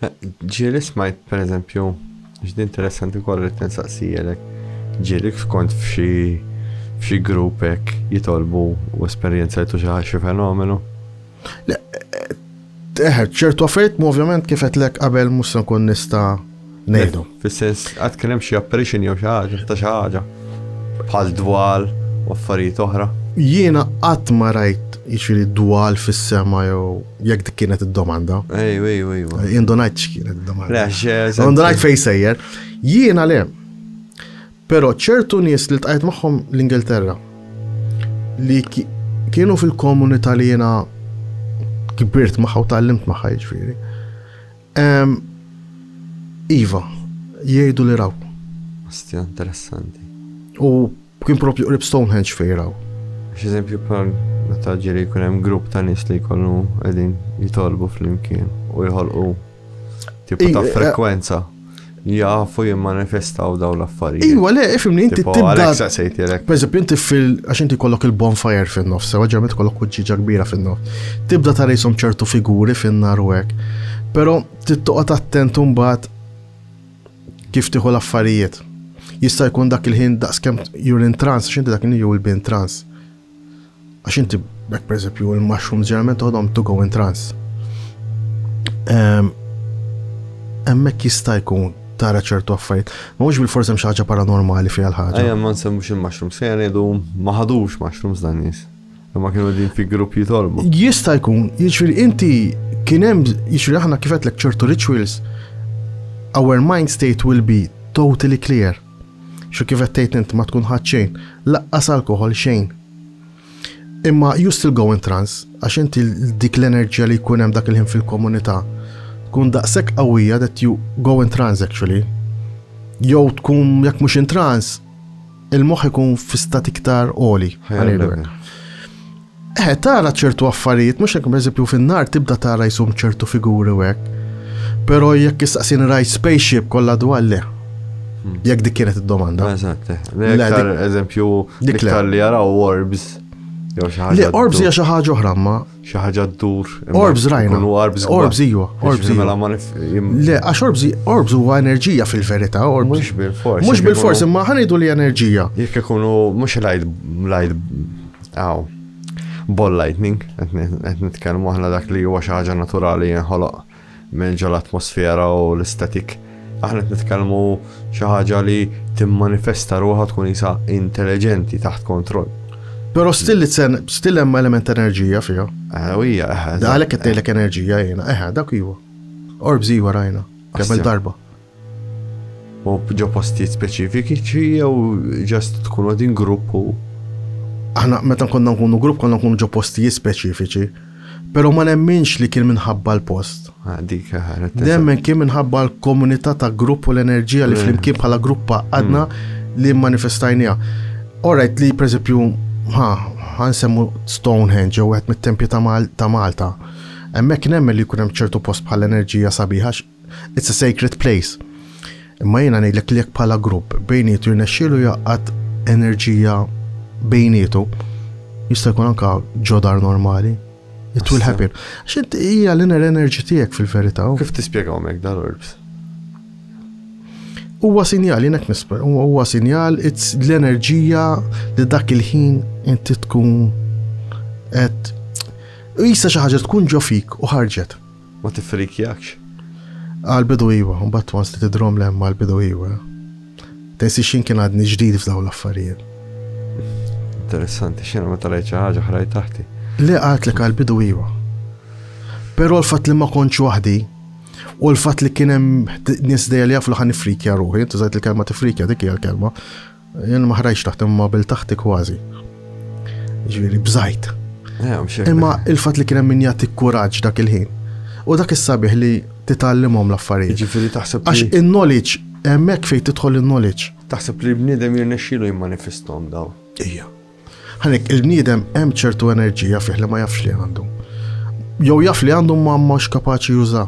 Ġieli smajt pereżempju, ġdi interessanti wkoll li tinsaqsijelek, ġieli kont f'xi f'xi grupp hekk jitolbu u esperjenzajtu xi ħaġa xi fenomenu? Eħe, ċertu affarijiet ovvjament kif qedtlek qabel mhux se nkun nista' ngħidhom. Fis-sens, qatt kien hemm xi apparition jew xi ħaġa, ta' xi ħaġa, bħal dwal u affarijiet oħra? Jiena qatt ma rajt jiġifieri dwal fis-sema jew jekk dik kienet id-domanda. Ejju, ejju, ejju. Indunajt x'kienet id-domanda. Indunajt fejn sejjer. Jiena le. Però ċertu nies li tqajt magħhom l-Ingilterra li kienu fil-komunità li jiena kibirt magħha u tallimt magħha jiġifieri. Ehm, iva, jgħidu li raw. Ostja, interessanti. U kien propju qrib Stonehenge fejn raw. X'eżempju bħal meta ġieli jkun hemm grupp ta' nies li jkollu qegħdin jitolbu flimkien u jħolqu tipo ta' eh, frekwenza. Jafu jimmanifestaw daw l-affarijiet. Iwa, le, ifimni, inti Tipo, tibda. għalhekk saqsejtilek. Per eżempju, inti fil. għax inti kollok il-bonfire fin-nofs, sewa ġermet kollok kuġġiġa kbira fin-nofs. Tibda tara jisom ċertu figuri fin-nar u hekk. Però tittoqgħod attent mbagħad kif tieħu l-affarijiet. Jista' jkun dak il-ħin daqskemm you're in trance, x'inti dak il-ħin jew il-bin trance. Għax inti, bek per eżempju, il-mushrooms ġeneralment toħodhom to go in trance. Emmek jista' jkun tara ċertu affarijiet. Ma mhux bil-forsi hemm xi ħaġa paranormali fiha l-ħaġa. Ejja ma nsemmux il-mushrooms, se jgħidu ma ħadux mushrooms dan nies. Imma kienu din fi grupp jitolbu. Jista' jkun, jiġri inti kien hemm jiġri aħna kif qedlek ċertu rituals, our mind state will be totally clear. Xi kif qed tgħid int ma tkun ħadt xejn, laqqas alkoħol xejn. Imma you still go in trance għax inti dik l-enerġija li jkun hemm dak il-ħin fil-komunità tkun daqshekk qawwija that you go in trance actually. Jew tkun jekk mhux in trance il-moħħ ikun fi stat iktar oli. Eħe, tara ċertu affarijiet, mhux hekk, pereżempju fin-nhar tibda tara jsum ċertu figuri u hekk. Però jekk issaqsini rajt spaceship kollha dwar le. Hmm. Jekk dik kienet id-domanda. Eżatt. Eh. L-iktar eżempju l-iktar li jaraw orbs. Le, orbs hija xi ħaġa oħra ma. Xi ħaġa ddur. Orbs rajna. Orbs orbs iwa. Orbs iwa. Mela le, għax orbs orbs huwa enerġija fil-verità, orbs. Mhux bil-fors. Mhux bil-fors, imma ħanidu li enerġija. Jekk ikunu mhux light light Aw. Ball lightning, qed nitkellmu aħna dak li huwa xi ħaġa naturali jinħoloq minn ġol atmosfera u l-istatik. Aħna qed nitkellmu xi ħaġa li timmanifesta ruħha tkun isa intelligenti taħt kontroll. Pero still li tsen, still hemm element ta' enerġija fiha. Ewija, eħe. Għalhekk qed tgħidlek enerġija jiena, eħe, dak iwa. Orbs iwa rajna, kemm darba. U ġo postijiet speċifiċi jew ġast tkunu din grupp u aħna meta konna nkunu grupp konna nkunu ġo postijiet speċifiċi. Pero ma nemminx li kien minħabba l-post. Ah, dik ħaret. Nemmen kien minħabba l-komunità ta' grupp u l-enerġija li eh. flimkien bħala gruppa għadna hmm. li manifestajnija. Orajt li, per eżempju, ha, għansemmu Stonehenge jew għet mit-tempju ta' Malta. Emmek nemmen li kunem ċertu post bħal enerġija sabiħax It's a sacred place. Imma jiena ngħidlek li jekk bħala grupp bejnietu jirnexxielu jaqgħad enerġija bejnietu, jista' jkun anka ġodar normali. It will happen. Xint hija l-inner energy tiegħek fil-verità. Kif tispjegaw mek dal-orbs? Huwa sinjal, jinek nisper, huwa sinjal, it's l-enerġija li dak il-ħin inti tkun et jisa xi ħaġa tkun ġofik u ħarġet. ma tiffrikjakx. Qal bidu iwa, mbagħad once li tidrom l-hemm qal bidu iwa. Tensiex jien kien għadni ġdid f'dawn l-affarijiet. Interessanti, x'jiena meta rajt xi ħaġa ħrajt taħti. Le qalt li qal bidu iwa. Però l-fatt li ma kontx waħdi u l-fatt li kien hemm nies dejja li jafu li ħan nifrikja ruħi, tużajt il-kelma tifrikja dik hija l-kelma, Jien ma ħrajx taħt imma bil taħti kważi. Ġifieri bżajt. Eh, imma il-fatt li kien hemm min jagħti kuraġġ dak il-ħin. U dak is-sabiħ li titgħallimhom l-affarijiet. Ġifieri taħseb Għax in-knowledge hemmhekk fejn tidħol in-knowledge. Taħseb li bniedem jirnexxielu jimmanifestom daw. Ija. Ħanek il-bniedem hemm ċertu enerġija fih li ma jafx li għandu. Jew jaf li għandu ma mhux kapaċi juża.